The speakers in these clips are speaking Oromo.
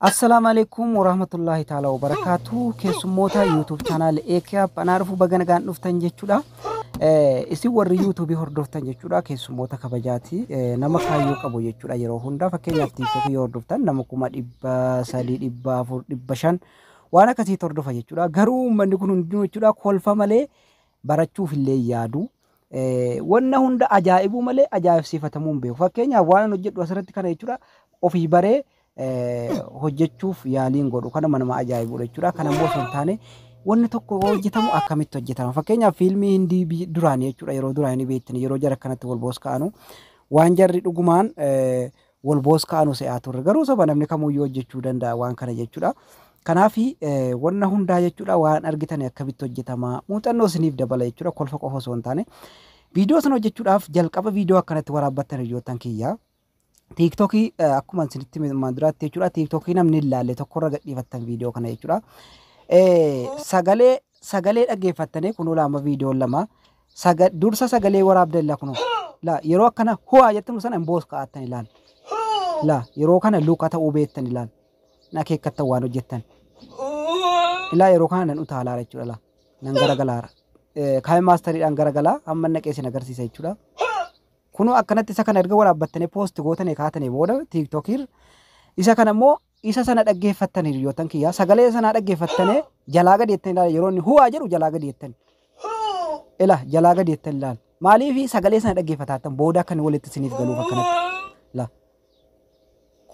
Assalaamu alaikum warahmatullahi ta'ala wabarakaatu keessummoota YouTube channel AKAP anaa dhufu baga nagaan dhuftan jechuudha. Isin warri YouTube hordoftan jechuudha keessummoota kabajaati nama kaayyoo qabu jechuudha yeroo hundaa fakkeenyaaf TikTok yoo hordoftan nama kuma dhibba sadii dhibba afur dhibba shan waan akkasiitti hordofa jechuudha garuu uummanni kun hundinuu jechuudha kolfa malee barachuuf illee hin yaadu. Wanna hunda ajaa'ibuu malee ajaa'ibsiifatamuu hin beeku. Fakkeenyaaf waan ani hojjedhu asirratti kana jechuudha ofii baree hojjechuuf yaaliin godhu kana manuma ajaa'ibudha jechuudha. Kana immoo osoo hin taane wanni tokko hojjetamu akkamitti hojjetama. Fakkeenyaaf fiilmii hindii biyya duraanii jechuudha yeroo duraanii beektan yeroo jara kanatti wal boos ka'anu waan jarri dhugumaan wal boos kaanu se'aa turre garuu soba namni kamuyyuu hojjechuu danda'a waan kana jechuudha. Kanaaf wanna hundaa jechuudha waan argitanii akkamitti hojjetama muuxannoo isiniif dabala jechuudha kolfa qofa osoo hin taane viidiyoo sana hojjechuudhaaf jalqaba viidiyoo akkanatti waraabbattan hiriyoottan kiyya. Tiiktookii akkuma isinitti himaan duraatti jechuudha tiiktookii namni hin laalle tokkorra gadhiifattan viidiyoo kana jechuudha. Sagalee sagalee dhaggeeffattanii kun olaama viidiyoon lama saga, dursa sagalee waraabdan la kunoo la yeroo akkana huwaa jettan sana hin boos kaa'attan ilaal la yeroo kana luka ta'uu beektan ilaal na akeekkattan waan hojjettan ilaa yeroo kana nan utaalaa jechuudha la nan garagalaara kaayee maastariidhaan garagalaa amma naqee sin agarsiisa jechuudha kunoo akkanatti isa kana erga waraabbattanii poosti gootanii kaatanii booda tiiktokiir isa kana immoo Isa sana dhaggeeffattan hiriyoottan kiyyaa sagalee isa sanaa dhaggeeffattanee jalaa gadi jettan ilaala yeroo inni huwaa jedhu jalaa gadi jettan ila jalaa gadi jettan ilaala maaliifi sagalee sana dhaggeeffataattan booda akka inni walitti isiniif galuuf akkanatti la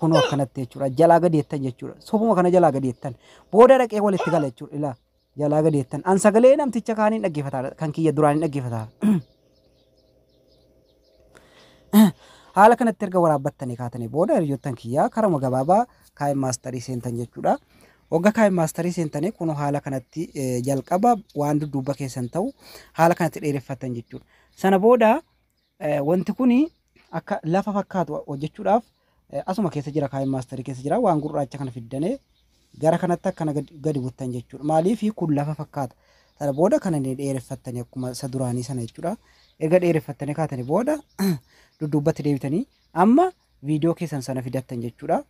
kunoo akkanatti jechuudha jalaa gadi jettan jechuudha sobuma kana jalaa gadi jettan booda dhaqee walitti gala jechuudha ila jalaa gadi jettan. An sagalee namticha kaaniin dhaggeeffataa kan kiyya duraan hin dhaggeeffataa. Haala kanatti erga waraabbattanii kaatanii booda hiriyoottan kiyyaa karuma gabaabaa kaa'in maastarii seentan jechuudha. Wagga kaa'in maastarii seentanii kun haala kanatti eh, jalqaba waan dudduuba keessan ta'u haala kanatti dheereffattan jechuudha. Sana booda Wanti kun akka lafa fakkaatu hojjechuudhaaf asuma keessa jira kaayeen maastarii keessa jira waan gurraacha kana fiddane gara kanatti akkana gadi buttan jechuudha. Maaliif kun lafa fakkaata. Sana booda kana ni dheereffattanii akkuma isa duraanii sana jechuudha. Erga dheereffattanii kaatanii booda dudduubbatti deebitanii amma viidiyoo keessan sana fidattan jechuudha.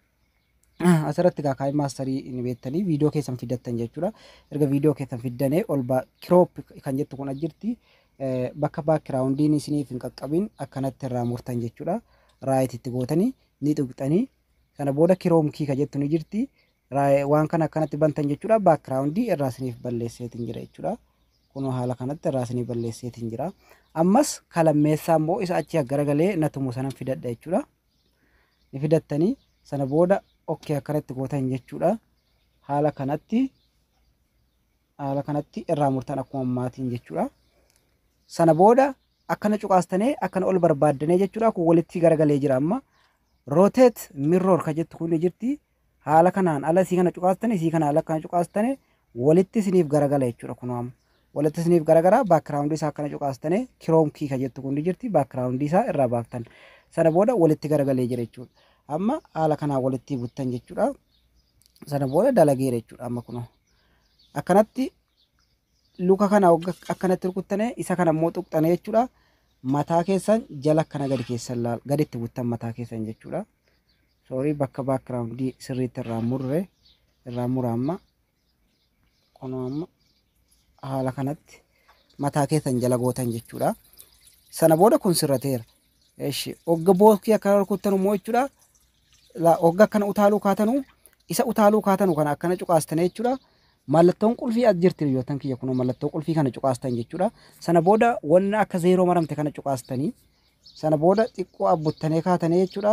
asirratti gaa kaa'in maastarii ni beektanii viidiyoo keessan fidattan jechuudha. Erga viidiyoo keessan fiddanee ol baa kiroop kan jettu kun ajjirti bakka baakiraawundiin isiniif hin qaqqabin akkanatti irraa murtan jechuudha. Raayit itti gootanii ni tuqxanii kana booda kiroom kiika jettu ni jirti. Waan kana akkanatti bantan jechuudha baakiraawundii irraa isiniif balleesseetiin jira jechuudha. Kun haala kanatti irraa isiniif balleesseetiin jira. Ammas kalammeessaa immoo isa achi garagalee natumu sanan fidadha jechuudha. ni fidattani sana booda ok akkanatti gootan jechuudha haala kanatti haala kanatti irraa murtan akkuma ammaatiin jechuudha sana booda akkana cuqaastanee akkana ol barbaaddanee jechuudha kun walitti garagalee jira amma rotate mirror ka jettu kun ni jirti haala kanaan ala isii kana cuqaastanii isii kana ala akkana cuqaastanii walitti isiniif garagala jechuudha kunoo amma walitti isiniif garagara baakiraawundii isaa akkana cuqaastanii kiroom kii ka jettu kun ni jirti baakiraawundii isaa irraa baaftan sana booda walitti garagalee jira jechuudha amma haala kanaan walitti buttan jechuudha sana booda dalageera jechuudha amma kunoo akkanatti luka kana wagga akkanatti rukuttane isa kana immoo tuqxane jechuudha mataa keessan jala akkana gadi keessan laal gaditti buttan mataa keessan jechuudha Sorry bakka background sirriitti irraa murre irraa mura amma kunoo amma haala kanatti mataa keessan jala gootan jechuudha. Sana booda kun sirrateera. Eshi ogga bookii akkana rukuttanu immoo jechuudha. La- Ogga akkana utaaluu kaatanu isa utaaluu kaatanu kana akkana cuqaastan jechuudha. Mallattoon qulfii as jirti biyyoottan kiyya kunoo mallattoo qulfii kana cuqaastan jechuudha. Sana booda wanna akka zeeroo maramte kana cuqaastanii sana booda xiqqoo abbuttanee kaatanii jechuudha.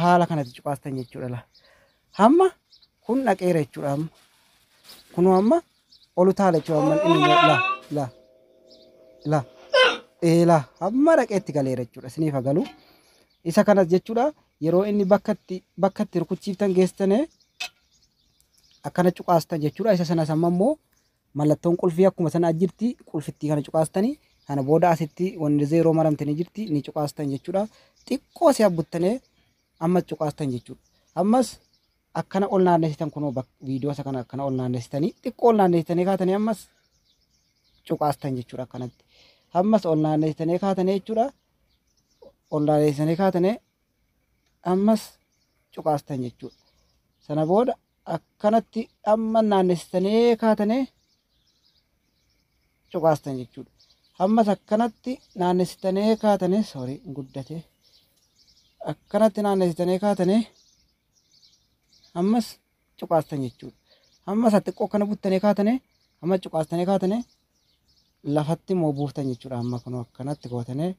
haala kanatti cuqaastan jechuudha la hamma kun dhaqeera jechuudha amma kunoo amma olu taala jechuudha amma inni immoo la la la ee la hamma dhaqeetti galeera jechuudha isiniif haa galu isa kanas jechuudha yeroo inni bakkatti bakkatti rukuchiiftan geessitane akkana cuqaastan jechuudha isa sanas amma immoo Mallattoon qulfii akkuma sana as jirti. Qulfittii kana cuqaastani. Kana booda asitti wanni zeeroo maramte ni jirti. Ni cuqaastan jechuudha. Xiqqoo si abbuttanee ammas cuqaastan jechuudha. Ammas akkana ol naannessitan kunoo bak- viidiyoo isa kana akkana ol naannessitanii xiqqoo ol naannessitanii kaatanii ammas cuqaastan jechuudha akkanatti. Ammas ol naannessitanii kaatanii jechuudha. Ol naannessitanii kaatanii ammas cuqaastan jechuudha. Sana booda akkanatti amma naannessitanii kaatanii cuqaastan jechuudha. Ammas akkanatti naannessitanii kaatanii sorry guddate akkanatti naannessitanii kaatanii ammas cuqaastan jechuudha. Ammas xiqqoo kana buttanii kaatanii amma cuqaastanii kaatanii lafatti immoo buuftan jechuudha. Amma kun akkanatti gootanii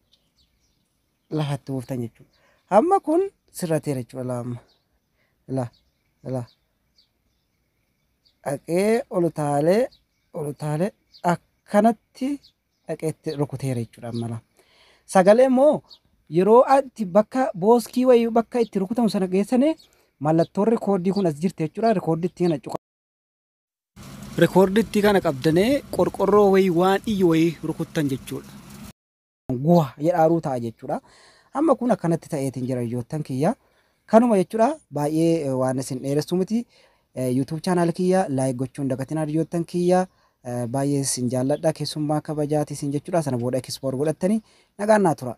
lafatti buuftan jechuudha. Amma kun sirrateera jechuudha laa amma. Laa laa dhaqee ol utaalee ol utaalee akkanatti dhaqeetti rukuteera jechuudha amma laa. Sagalee immoo yeroo ati bakka booskii wayii bakka itti rukutamu sana geessane mallattoon rikoordii kun as jirti jechuudha rikoordii itti kana cuqa. Rikoordii itti kana qabdanee qorqorroo wayii waan iyyu wayii rukuttan jechuudha. guha jedhaaruu ta'a jechuudha. Amma kun akkanatti ta'eetiin jira hiriyoottan kiyya. Kanuma jechuudha baay'ee eh, waan isin dheeressuu miti. Eh, YouTube channel kiyya like gochuun dagatinaa hiriyoottan kiyya. Eh, Baay'ee isin jaalladha keessummaa kabajaati isin jechuudha. Sana booda explore godhattanii nagaan naa tura.